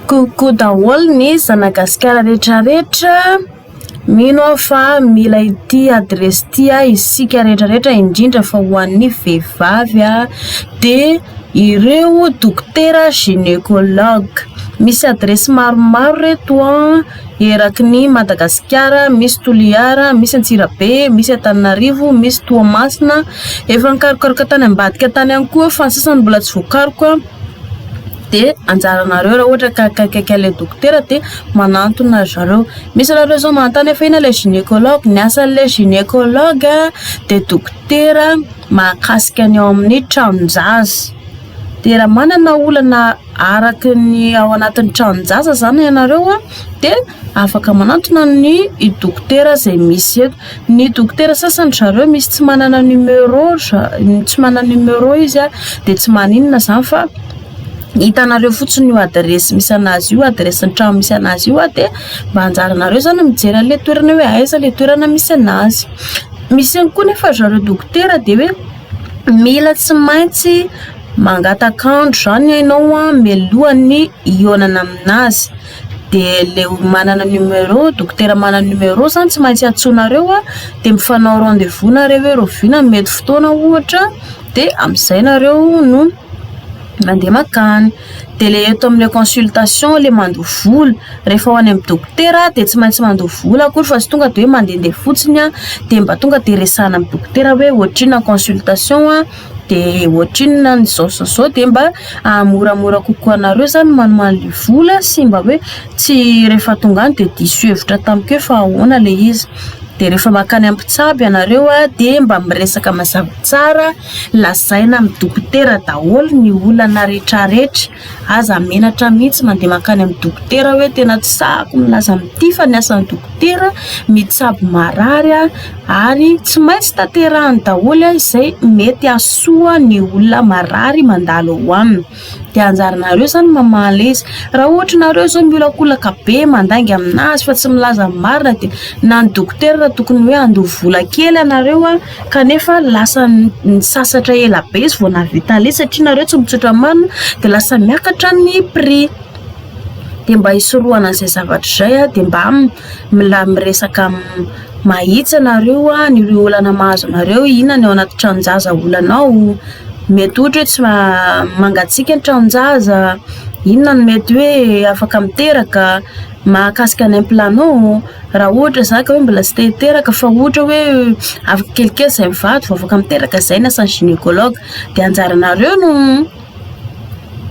Coucou daholo ny zanagasikara rehetra rehetra, mino aho fa mila ity adiresy ity isika rehetra rehetra indrindra fa ho an'ny vehivavy aho dia ireo dokotera gynécologue, misy adiresy maromaro ireto an. Eraky ny Madagasikara, misy Toliara, misy Antsirabe, misy Antananarivo, misy Toamasina. Efa nikarokaroka tany ambadika tany ihany koa fa ny sasany mbola tsy voakaroka. Dia anjaranareo raha ohatra ka akaikikaiky an'ilay dokotera dia manantona ry zareo. Misy anareo izao manontany hoe fa inona ilay gynécologue? Ny asan'ilay gynécologue dia dokotera mahakasika ny ao amin'ny tranon-jaza. Dia raha manana olana. araka ny ao anatin'ny tranon-jaza izany ianareo dia afaka manantona ny dokotera izay misy eto. Ny dokotera sasany ry zareo misy tsy manana numéro tsy manana numéro izy dia tsy maninona izany fa hitanareo fotsiny io adiresy misy an'azy io, adiresin'ny trano misy an'azy io dia mba anjaranareo izany ny mijery an'ilay toerana hoe aiza ilay toerana misy an'azy. Misy ihany koa anefa ry zareo dokotera dia hoe. Mila tsy maintsy mangataka andro izany ianao mialoha ny hihaonana amin'azy. Dia ilay olo manana numéro, dokotera manana numéro izany tsy maintsy antsoinareo dia mifanao rendez-vous nareo hoe rahoviana ny mety fotoana ohatra dia amin'izay nareo no. mandeha makany dia ilay eto amin'ilay consultation ilay mandoa vola rehefa ho any amin'ny dokotera dia tsy maintsy mandoa vola akory fa tsy tonga dia hoe mandehandeha fotsiny aho dia mba tonga dia resahina amin'ny dokotera hoe ohatrinona ny consultation an dia ohatrinona ny izao sy izao dia mba hahamoramora kokoa anareo izany ny manomaly ny vola sy mba hoe tsy rehefa tonga any dia diso hevitra tamiko hoe fa ahoana ilay izy dia rehefa makany amin'ny mpitsabo ianareo dia mba miresaka mazava tsara Lazaina amin'ny dokotera daholo ny olana retraretra, aza menatra mihitsy mandeha mankany amin'ny dokotera hoe tena tsy sahako milaza amin'ity fa ny asan'ny dokotera mitsabo marary ary tsy maintsy tanterahiny daholo izay mety hahasoa ny olona marary mandalo ao aminy. Dia anjaranareo izany mamaly izy. Raha ohatra nareo izao miolakolaka be mandainga aminazy fa tsy milaza ny marina dia na ny dokotera tokony hoe handoa vola kely anareo an, kanefa lasa nisasatra ela be izy vao nahavita ale satria nareo tsy mitsotra marina dia lasa miakatra ny prix. Dia mba hisorohana izay zavatra izay dia mba. Mila miresaka mahitsy ianareo ny ireo olana mahazo anareo ina ny ao anaty tranon-jaza olana ao mety ohatra hoe tsy mangatsiaka ny tranon-jaza inona no mety hoe afaka miteraka mahakasika ny implanô raha ohatra za ka hoe mbola tsy te hiteraka fa ohatra hoe afaka kelikely izay mivady vao afaka miteraka izay ny asan'ny gynécologue dia anjaranareo no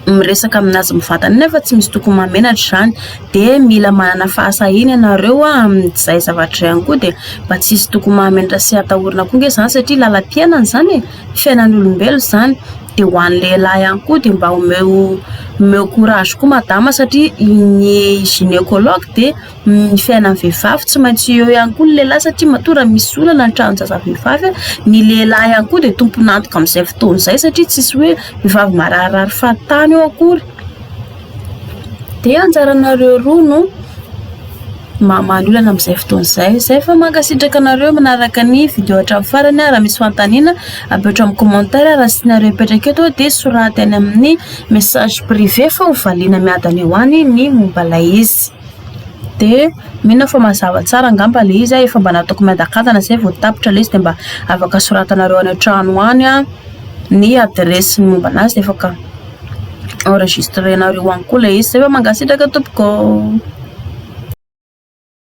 miresaka amin'azy mivantana iny fa tsy misy tokony mahamenatra izany dia mila manana fahasahiana ianareo a amin'izay zavatra izay ihany koa dia mba tsy hisy tokony mahamenatra sy hatahorana koa ange izany satria lalam-piainana izany e, fiainan'olombelona izany dia ho an'ny lehilahy ihany koa dia mba omeo omeo courage koa madama satria ny gynécologue dia ny fiainan'ny vehivavy tsy maintsy eo ihany koa ny lehilahy satria matoa raha misy olana ny tranon-jazavehivavy ny lehilahy ihany koa dia tompon'antoka amin'izay fotoana izay satria tsisy hoe vehivavy mararirary fahatany eo akory dia anjaranareo roa no mamaly olana amin'izay fotoana izay izay fa mankasitraka anareo manaraka ny video hatramin'ny farany raha misy fanontaniana apetrao amin'ny commentaire raha tsy tianareo hipetraka eto dia soraty any amin'ny message privé fa ho valiana miadana eo any ny momba ilay izy Dia mino aho fa mazava tsara angamba ilay izy, efa mba nataoko miadakadana izay vao tapitra ilay izy dia mba afaka soratanareo any an-trano any ny adiresy ny momba an'azy dia afaka enregistrenareo any koa ilay izy. Izay fa mankasitraka tompoko.